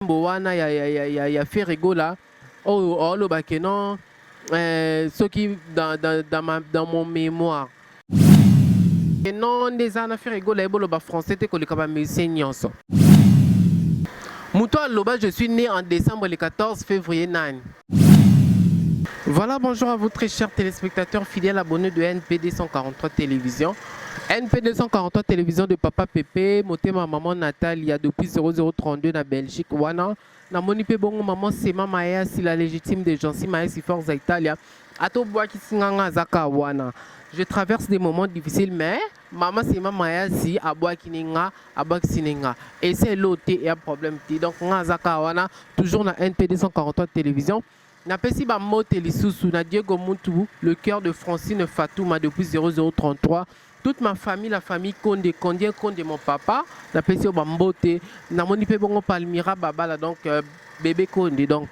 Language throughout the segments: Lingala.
nzembo wana ya, ya, ya, ya, ya Ferre Gola oyo oh, oloba ke non eh, soki dans, dans, dans, ma, dans mon mémoire ke non nde eza na Ferre Gola ye boloba français te koleka ba musicien nyonso moto aloba je suis né en décembre le 14 février nani Voilà, bonjour à vous très chers téléspectateurs fidèles abonnés de NP243 Télévision. NP243 Télévision de Papa Pépé, Motema Maman Natalia depuis 0032 na Belgique. Wana, na moni pe bongo maman Sema Maya, si la légitime de Jansi Maya, si Forza Italia. Ato Boaki Singanga Zaka Wana. Je traverse des moments difficiles, mais Mama sima mayasi abwaki ni nga abwakisi ni nga esi elo te eya problème te donc nga aza kaka wana toujours na NP 243 télévision napesi ba mbote lisusu na Diego Mutu le cœur de Francine Fatouma depuis 0033 toute ma famille la famille Konde Kondien Konde mon papa napesi yo ba mbote namoni pe bongo Palmira Babala donc euh, bébé Konde donc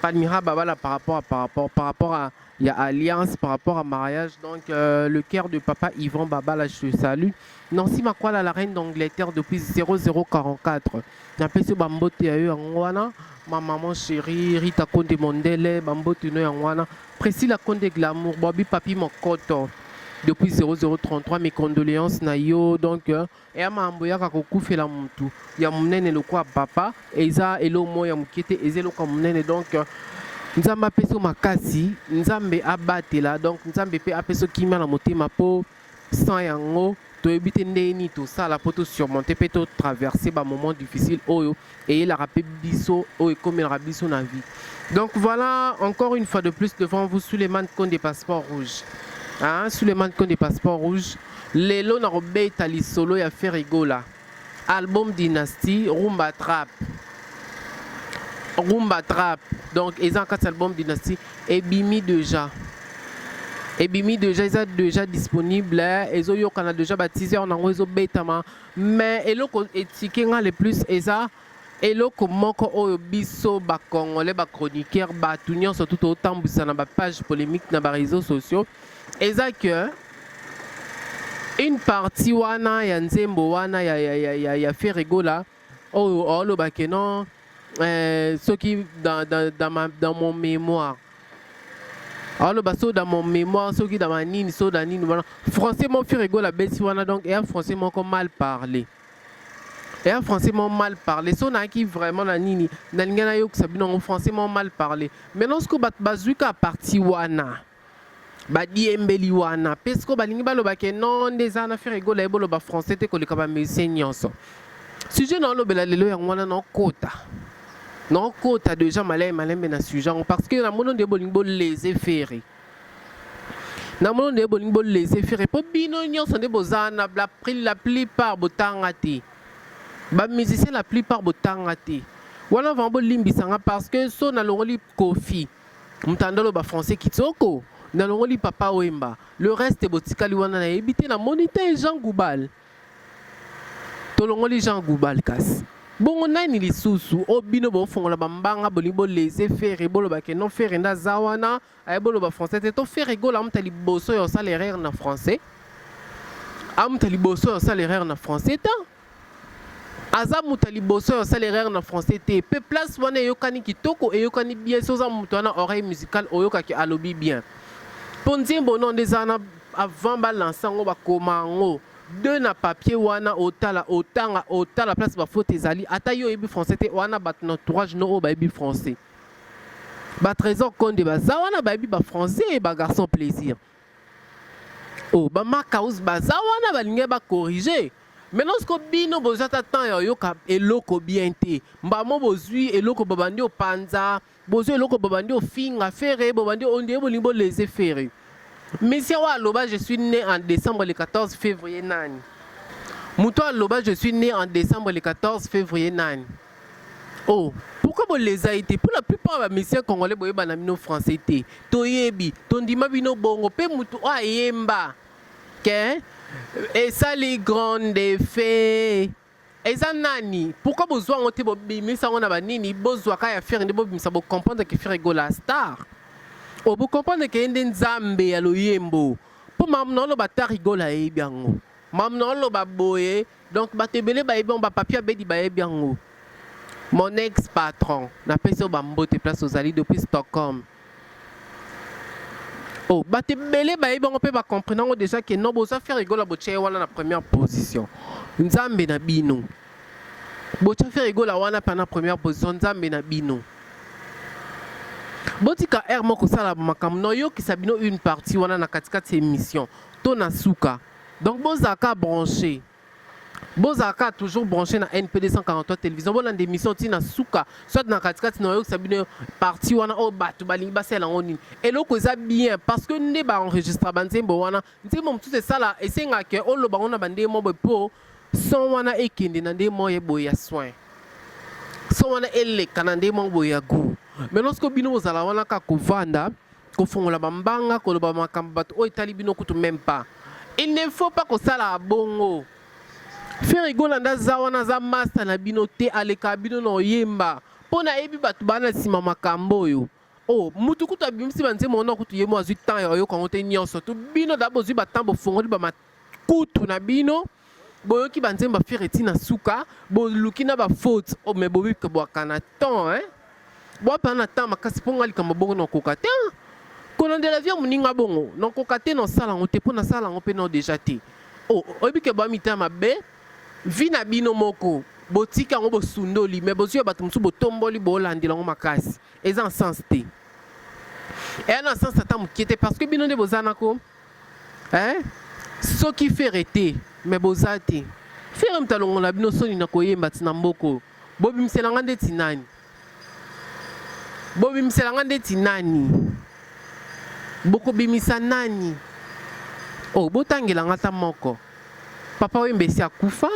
Palmira Babala par rapport à par rapport par rapport à Il y a alliance par rapport à mariage. Donc, euh, le cœur de papa Yvan Babala, je te salue. Nancy Makwala, la reine d'Angleterre, depuis 0044. Napesi bambote ya yo yango wana. Ma maman chérie, Rita Konde Mondele, bambote no yango wana. Priscilla Konde Glamour, Bobby Papi Mokoto. Depuis 0033, mes condoléances na yo. Donc, euh, Eya mambo yaka kokufela mutu ya munene lokola papa eza elo moko ya mukie te eza eloko ya munene donc nzambe apesa yo makasi nzambe abatela donc nzambe pe apesa yo kimia na motema po sans yango toyebi te ndenge nini tosala po to surmonter pe to traverser ba moment difficile oyo eyelaka mpe biso oyo ekomelaka biso na vie donc voilà encore une fois de plus devant vous suleiman konde passeport rouge hein? suleiman konde passeport rouge lelo nakobeta lisolo ya ferigola album dynastie rumba trap rumba trap donc eza na kati ya album dynastie ebimi déjà ebimi déjà eza déjà disponible ezoyokana déjà ba teaser na yango ezobetama Mais eloko etike nga le plus eza eloko moko oyo biso ba congolais ba chroniqueurs bato nyonso tu totambwisa na ba page polemique na ba réseaux sociaux eza que une partie wana ya nzembo wana ya, ya, ya, ya, ya ferregola oyo oloba ke non Euh, soki dans, dans, dans, ma, dans mon mémoire aloba so dans mon mémoire soki dans ma nini so dans nini wana français mon fur ego la besi wana donc eya français moko mal parler eya français moko mal parler so nayaki vraiment na nini nalingi nayokisa bino yango français moko mal parler maintenant soki bato bazwi ka parti wana Ba diembeli wana pe sikoyo balingi baloba ke non nde eza na Ferre Gola ye boloba français te koleka ba musiciens nyonso. Sujet na olobela lelo yango wana na okota. Na okota deja malai malembe na sujet yango parce que na mono nde bolingi bo leze Ferre. Na mono nde bolingi bo leze Ferre po bino nyonso nde boza na la, la plupart botanga te. Ba musiciens la plupart botanga te. Wana vraiment bolimbisa nga parce que so nalongoli Koffi. Mtandolo ba français kitoko nalongoli papa wemba le reste botikali wana nayebi te namoni te jean goubal tolongoli jean goubal kasi bongo nani lisusu o oh, bino bofongola bambanga bolingi bolese fere boloba ke non fere nde aza wana aye boloba français te to fere gola amuta liboso ya osala erreur na français amuta liboso ya osala erreur na français ta Aza mutu ya liboso ya osala erreur na français te pe place wana eyokani kitoko eyokani bien soki oza mutu wana oreille musicale oyoka ke alobi bien po nzembo no nde eza wana avant ba lance yango ba koma yango deux na papier wana otala otanga otala place ba faute ezali ata yo oyebi français te wana batu na entourage no oyo bayebi français ba trésor konde baza wana bayebi ba français ba garçon plaisir Oh, ba makaus baza wana balingi ba corriger mais lorsque bino boza ta temps ya yoka eloko bien te mbamo bozui eloko babandi opanza bozui eloko babandi ofinga fere bobandi ondie bolingi boleze fere monsieur wa aloba je suis né en décembre le 14 février nani moto aloba je suis né en décembre le 14 février nani Oh pourquoi bo lesa ye te? Pour la plupart ba musiciens congolais boyeba na bino français te. Toyebi, tondima bino bongo pe mutu oyo ayemba ke esali grand effet eza nani? Pourquoi bozua yango te bobimisa yango na banini? Bozua ka ya Ferre nde bobimisa bo comprendre ke Ferre Gola star. Oh bo comprendre ke ye nde nzambe ya loyembo. Po mamu na oloba ta rigola ayebi yango. Mamu na oloba boye Donc bato ebele bayebi yango ba papy abedi bayebi yango mon ex patron napesi yo ba mbote place ozali depuis Stockholm oh bato ebele bayebi yango mpe ba comprendre yango déjà que non boza faire egola botia ye wana na première position nzambe na bino botia faire egola wana mpe na première position nzambe na bino botika heure moko kosala makambo noyokisa bino une partie wana na katikati ya émission to na suka Donc bozala ka branche. Bozala ka toujours branche na NP 243 télévision. Bolanda émission ti na suka. Soit na katikati na oyokisa bino partie wana oyo bato balingi basala yango nini. Eloko eza bien parce que nde ba enregistra ba nzembo wana. Nzembo mosusu esala esenga ke oloba yango na bande mo boye po son wana ekende na nde moye boye ya soin. Son wana eleka na nde mo boye ya goût. Mais lorsque bino bozala wana ka kovanda kofongola ba mbanga koloba makambo bato oyo etali bino kutu meme pas il ne faut pas kosala abongo Ferre Gola nda za wana za masta na bino te aleka bino na oyemba mpo nayebi bato bana nsima makambo oyo oh mutu kutu abimisi banzembo wana kutu ye mo azwi temps ya oyoka yango te nyonso to bino da bozwi batemp bofongoli Kutu na bino boyoki ba nzembo afire ti na suka boluki na ba faute oh, mais bobi ke bwakana temps hein bwapa na temps makasi mpo nga likambo bongo nakoka te hein? kolandela vie ya moninga bongo nakoka te nasala yango te mpo nasala yango mpe nao deja te oh, oyebi ke bwa mitema mabe vi na bino moko botika yango bosundoli me bozwi ya bato mosusu botomboli bolandela yango makasi eza na sens te eya na sens ata moke te parce que bino nde boza nako Eeh soki Ferre te mais boza te Ferre mutu alongola bino soni na koyemba ti na mboka oyo bobimisela nga ndeti nani? Bobimisela nga ndeti nani? Bokobimisa nani? Oh botangela nga ata moko papa wemba esi akufa?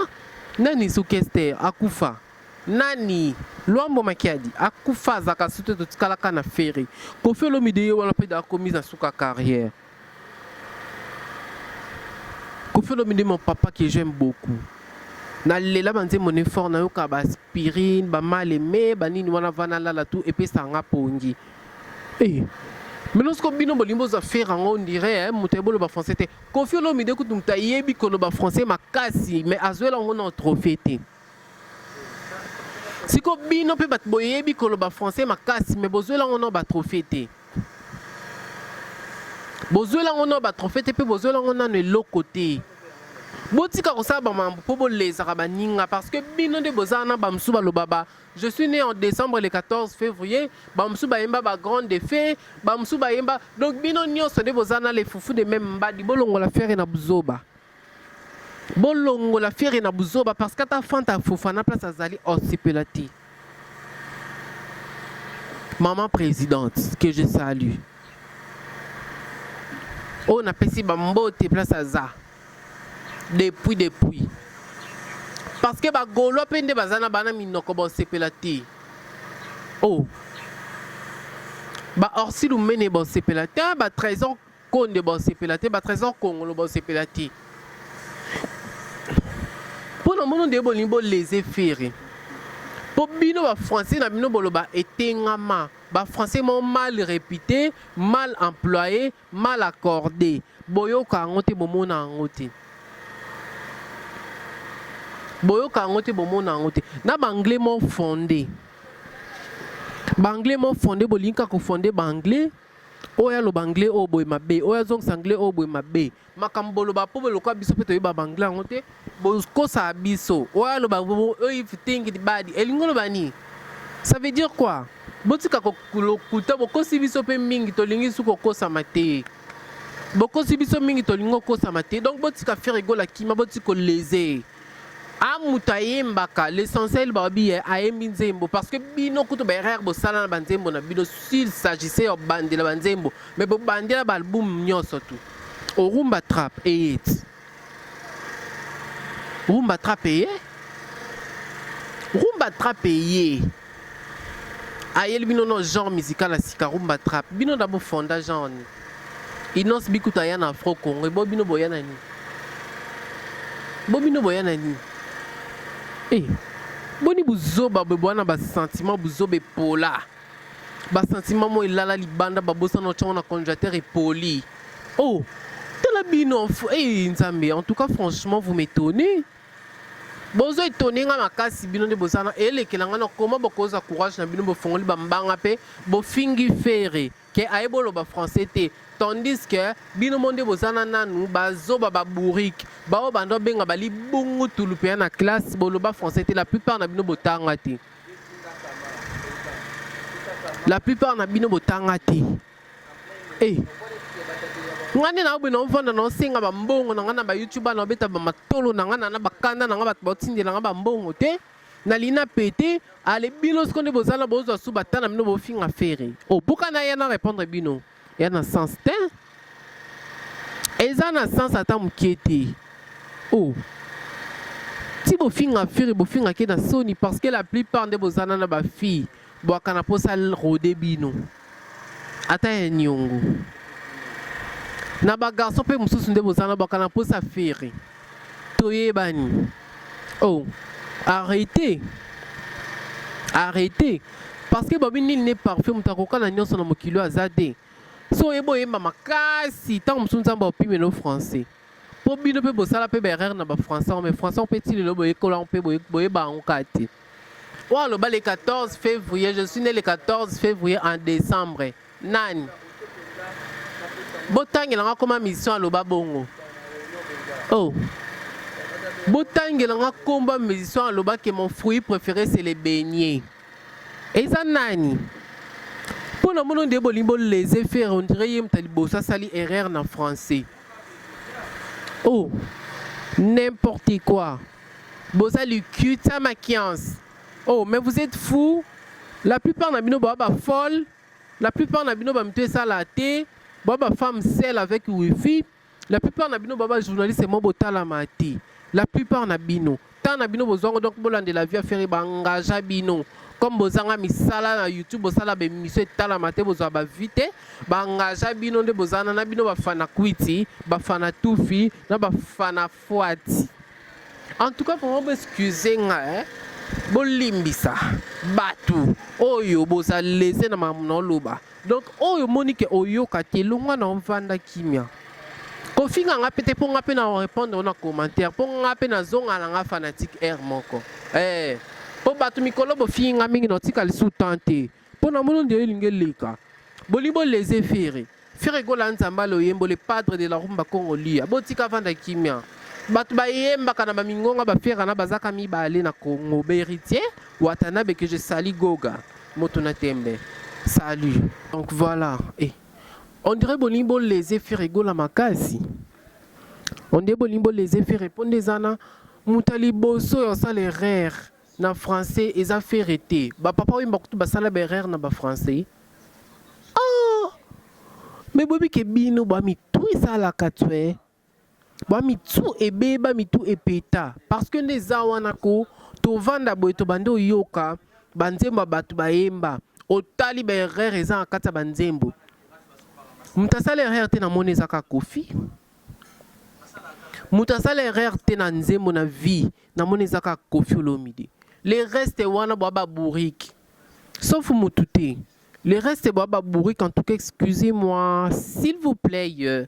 Nani suki Esther akufa? Nani? Luambo makiadi akufa azalaka lisusu te totikala kaka na ferre. Koffi olomide ye wana pe dejà akomi na suka ya carrière. Koffi olomide mon papa que j'aime beaucoup. Na lela ba nzembo ne fort nayoka ba aspirine, ba mal aime, ba nini wana va nalala tout epesaka nga pongi. Eh. Maintenant siko bino bolingi bozwa ferre yango on dirait eh, moto ayebi oloba français te. Koffi olomide kutu moto ayebi koloba français makasi mais azwela yango nao trophee te. Siko bino pe bat boyebi koloba français makasi mais bozwela ngo nao ba trophee te. Bozwela ngo nao ba trophee te pe bozwela ngo nano eloko te. Botika kosala ba mambo po bolezaka baninga parce que bino nde boza wana ba mosusu baloba ba je suis né en décembre le 14 février ba mosusu bayemba ba grande de fée ba mosusu bayemba donc bino nyonso nde boza na le fufu de même mbadi bolongola fere na buzoba. Bolongola fiere na buzoba parce que ata fanta ya fofana place azali osepela oh, te maman présidente que je salue oyo napesi bambote place aza depuis depuis parce que bagaulois mpe nde baza na bana minoko bosepela te o oh. baorsi lumene bosepela te batrésor Konde ba osepela te ba tresor kongolo ba osepela te mpo na mono nde bolingi bo lese fere mpo bino ba français na bino boloba etengama ba français mo mal repute mal employe mal accorde boyoka yango te bomona yango te boyoka yango te bomona yango te na baanglais mo fonde baanglais mo fonde bolingi kaka kofonde baanglais Oyo aloba anglais oyo boye mabe, oyo azongisa anglais oyo boye mabe. Makambo boloba po lokola biso pe toyeba ba anglais yango te, bokosa biso. Oyo aloba oyo if you think it bad, elingi oloba nini? Ça veut dire quoi? Botika ko lokuta, bokosi biso pe mingi, tolingi su kokosama te. Bokosi biso mingi, tolingi kokosama te. Donc botika Ferre Gola kima, botika koleze. Ah mutu ayembaka l'essentiel babi eh, ayembi nzembo parce que bino kutu ba erreur bosala na ba nzembo na bino s'il s'agissait ya bandela ba nzembo mais bobandela ba album nyonso tu orumba trap eyeti rumba trap eye rumba trap eye ayeli bino no genre musical ya sika rumba trap bino na bofonda genre nini Innoss bi kutu aya na Afro Congo ebo bino boya na nini? Bo bino boya na nini? Eh boni buzoba boye boya na ba sentiment buzoba epola ba sentiment mo elala libanda babosana otyango na congélateur epoli oh tala bino eh nzambe en tout cas franchement vous m'étonnez bozo etone nga makasi bino nde bozana elekela nga na koma bokoza courage na bino bofongoli bambanga mpe bofingi fere que ayebi oloba français te tandis que bino mo nde boza na nanu bazoba ba bourrique baoyo banda obenga bali bongo tulu mpenza na classe boloba français te la plupart na bino botanga te la plupart na bino botanga te e ngai nde naobe naovanda naosenga bambongo na ngai na bayoutube na obeta bamatolo na ngai nana bakanda na ngai bato baotindela ngai bambongo te Na lina pete ale bino siko nde bozana bozwa su batana bino bofinga fere obuka na ya na repondre bino ya na sens te eza na sens ata mokie te o oh. ti bofinga fere bofingake na soni parce que la plupart nde bozana na bafille Bwaka na posa rode bino ata ya niongo na ba garçon pe mususu nde bozana bwaka na posa ferre toyebani oh arrete arrete parce que babi nini ne parfait moto akoka na nyonso na mokili oyo aza te so oyeba oyemba makasi ntango mosusu nzambe aopimelo français po bino pe bosala pe ba erreur na ba français yango mais français yango pe ti lelo boyekola yango pe boyeba yango kaka te oyo aloba le 14 février je suis né le 14 février en décembre nani botangela nga koma mission aloba bongo oh botangela nga komba musicien aloba ke mon fruit préféré c'est le beignet eza nani mpo na mono nde bolingi bolese fere ondire ye moto ya liboso asali erreur na français Oh, n'importe quoi. Boza lukuta makians. Oh, mais vous êtes fou. La plupart na bino ba ba folle. La plupart na bino ba mtu esala te. Ba ba femme seule avec wifi. La plupart na bino ba ba journaliste mo botala mati. La plupart na bino. temps na bino bozwa ngo donc bolandela vie ya ferre baengagea bino comme bozanga misala na youtube bosala baemission etalama te bozwa bavie te baengagea bino nde bozana na bino bafana kwiti bafana tufi na bafana fwati en tout cas vraiment boexcuse nga eh? bolimbisa bato oyo boza lese na makambo na oloba Donc oyo omoni ke oyoka te longwa na ovanda kimia kofinga nga pe te mpo nga mpe na orepondre ona commentaire mpo nga mpe nazonga na nga fanatique aire moko eh, mpo bato mikolo bofingi nga mingi na otika lisu temps te mpo na mono nde elingi eleka bolingi boleze fere fere gola nzamba loyembo le padre de la rumba congo lia botika vanda kimia bato bayembaka na bamingonga baferana bazaka mibale na congo baheritier watanabe que je sali goga Moto na tembe. Salut. Donc voilà. Eh. On dirait bolingi bo lese fere gola makasi. On dirait bolingi bo lese fere mpo nde eza na moto ya liboso ya osala erreur na français eza fere te. Bapapa oyemba kutu basala baerreur na bafrançais. Oh! Mais boyebi ke bino bwa mitu esalaka tue. Ba mitu ebeba mitu epeta parce que nde eza wana ko tovanda boye tobandi oyoka ba nzembo ya batu bayemba otali ba erreur eza na kati ya ba nzembo mutu asala erreur te na moni eza kaka koffi mutu asala erreur te na nzembo na vie na moni eza kaka koffi olomide le reste wana bwa ba bourrique sauf mutu te le reste bwa ba bourrique en tout cas excusez moi s'il vous plait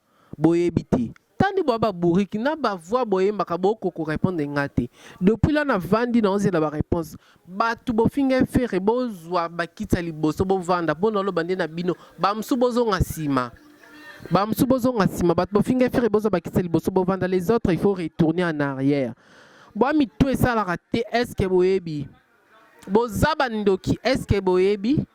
boyebi te tandi bwa ba bourrique na ba voix boyembaka boko ko repondre nga te depuis là na vandi na ozela ba reponse batu bofinga ferre bozwa ba kiti ya liboso bovanda po na loba nde na bino ba mosusu bozonga sima ba mosusu bozonga sima batu bofinga ferre bozwa ba kiti ya liboso bovanda les autres il faut retourner en arrière bwa mitu esalaka te est ce que boyebi boza ba ndoki est ce que boyebi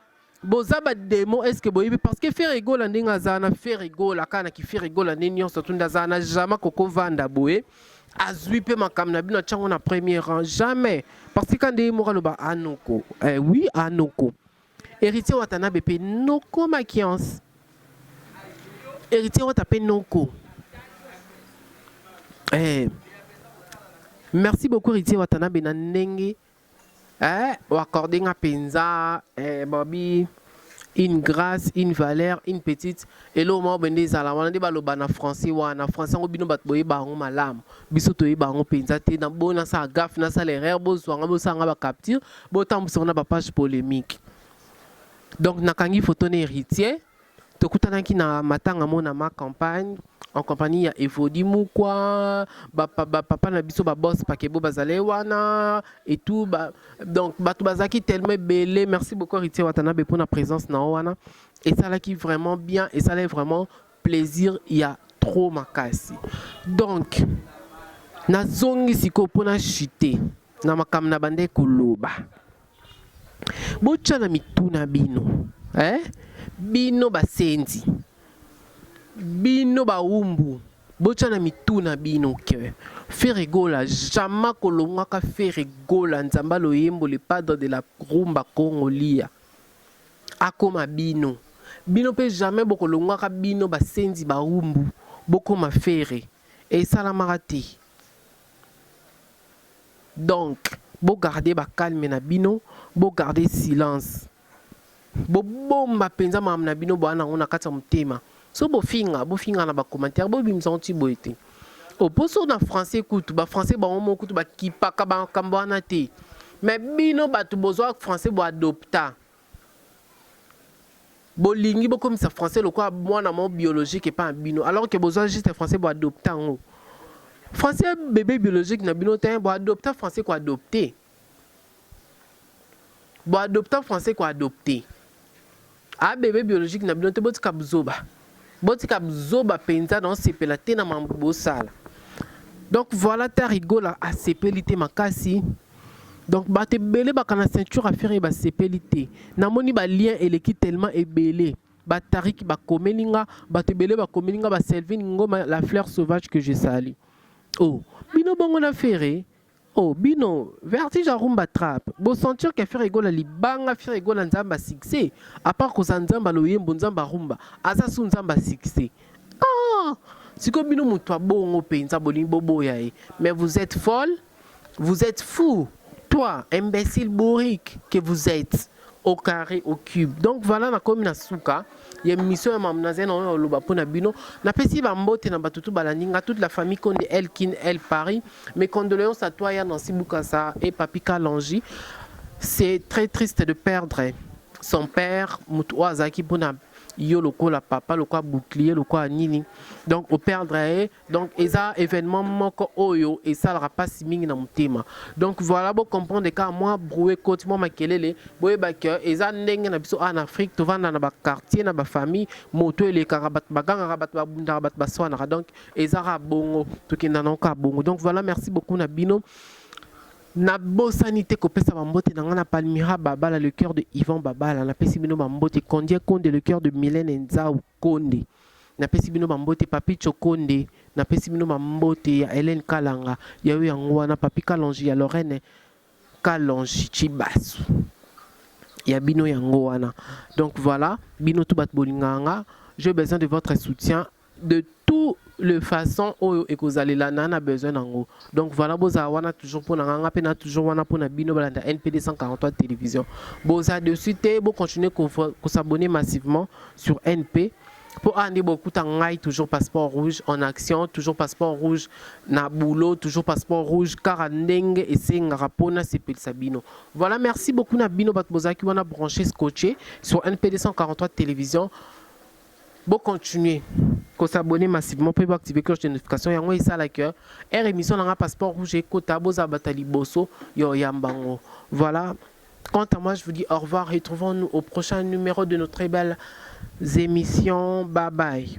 boza ba demo eske boyebi parce que Ferre Gola ndenge aza na Ferre Gola kana ki Ferre Gola nde nyonso tunda aza na jamais koko vanda boye azui pe makambo na bino atyango na premier rang jamais parce que kande ye moko aloba anoko eh, oui anoko héritier watanabe pe noko makiance héritier wata pe noko eh. merci beaucoup héritier watanabe na ndenge Eh, oaccorde nga penza eh, Bobby une grâce, une valeur, une petite eloko moko bende ezala wana nde baloba na français wana français yango bino bato boyeba yango malamu biso toyeba yango mpenza te na boyo nasala gafe nasala erreur bozwa nga bosala nga bacapture botambwisa yango na bapage polémique donc nakangi foto na héritier Tokutanaki na matanga mona ma campagne en compagnie ya Evodi Mukwa, ba, ba papa na biso ba boss pakebo bazale wana et tout ba, donc bato bazalaki tellement ebele. Merci beaucoup Heritier Watanabe pour na présence na wana esalaki vraiment bien, esalaki vraiment plaisir ya trop makasi. Donc nazongi sikoyo mpo na chute na makambo na bande koloba. botya na mitu na bino eh? bino basenzi bino bawumbu botya na mitu na bino ke Ferre Gola jamais kolongwaka Ferre Gola nzamba loyembo le padre de la rumba Congo lia akoma bino bino mpe jamais bokolongwaka bino basenzi bawumbu bokoma Ferre esalamaka te Donc bo garder ba calme na bino, bo garder silence. Bo bomba penza makambo na bino boa nango na kati ya motema. Soki bo finga, bo finga na ba commentaires, bo bimisa yango ti boye te. Oposo na français kutu, ba français bango moko kutu ba kipaka ba makambo wana te. Mais bino batu bozua français bo adopta. Bolingi bokomisa français lokola mwana moko biologique epa na bino alors que bozua juste français bo adopta yango. Français bebe biologique na bino te, bo adopta français ko adopte. Bo adopta français ko adopte. A bebe biologique na bino te botika buzoba. Botika buzoba penza na osepela te na mambo bosala. Donc voilà ta rigola asepeli te makasi. Donc bato ebele bakana ceinture ya ferre basepeli te. Namoni ba lien eleki tellement ebele. Batariki bakomeli nga, bato ebele bakomeli nga ba Selvin Ngoma la fleur sauvage que je salue. Oh, bino bongo na ferre Oh bino vertige ya rumba trap bo sentir que Ferre Gola libanga Ferre Gola nzamba succès à part koza nzamba loyembo nzamba rumba aza su nzamba succès ah siko bino mutu abongo penza bolingi boboya ye mais vous êtes folle vous êtes fou toi imbécile bourrique que vous êtes au carré au cube donc voilà nakomi na suka ya mission ya mamu nazali nango ya koloba mpo na bino napesi bambote na bato tu balandi nga toute la famille konde el kin el paris mes condoléances à toi ya nancy bukasa et papi kalangi c'est très triste de perdre son père moto oyo azalaki mpo na yo lokola papa lokola bouclier lokola nini donc operdre ye donc eza événement moko oyo esalaka mpasi mingi na motema donc voilà bo comprendre kaka mwa broue cote mwa makelele boyeba ke eza ndenge na biso awa na afrique tovanda na baquartier na bafamille moto elekaka bato bagangaka bato babundaka bato baswanaka donc eza kaka bongo tokenda nango kaka bongo donc voilà merci beaucoup na bino nabosani te kopesa bambote na ngai na palmira babala le cœur de yvan babala napesi bino bambote condie conde le cœur de milene nzau Konde. Napesi bino ba mbote papitsho konde napesi bino ba mbote ya Helène kalanga ya yo yango wana papi kalonji ya Lorraine kalonji tshibasu ya bino yango wana donc voilà bino tout bato bolingaka nga j'ai besoin de votre soutien de tout le façon oyo ekozalela na na besoin nango donc voilà bozala wana toujours pona nga nga pe na toujours wana pona bino balanda NPD 143 télévision boza dessus te bo continuer ko, ko s'abonner massivement sur NP po awa nde bokuta ngai toujours passeport rouge en action toujours passeport rouge na boulot toujours passeport rouge kaka ndenge esengaka mpo nasepelisa bino voilà merci beaucoup na bino bato bozalaki wana branche scotche sur np 243 télévision Bo continuer ko s'abonner massivement pe bo activer cloche de notification yango esala que heure emission na nga passeport rouge ekota boza bata liboso ya oyamba ngo. Voilà. Quant à moi, je vous dis au revoir. Retrouvons-nous au prochain numéro de nos très belles émissions. Bye bye.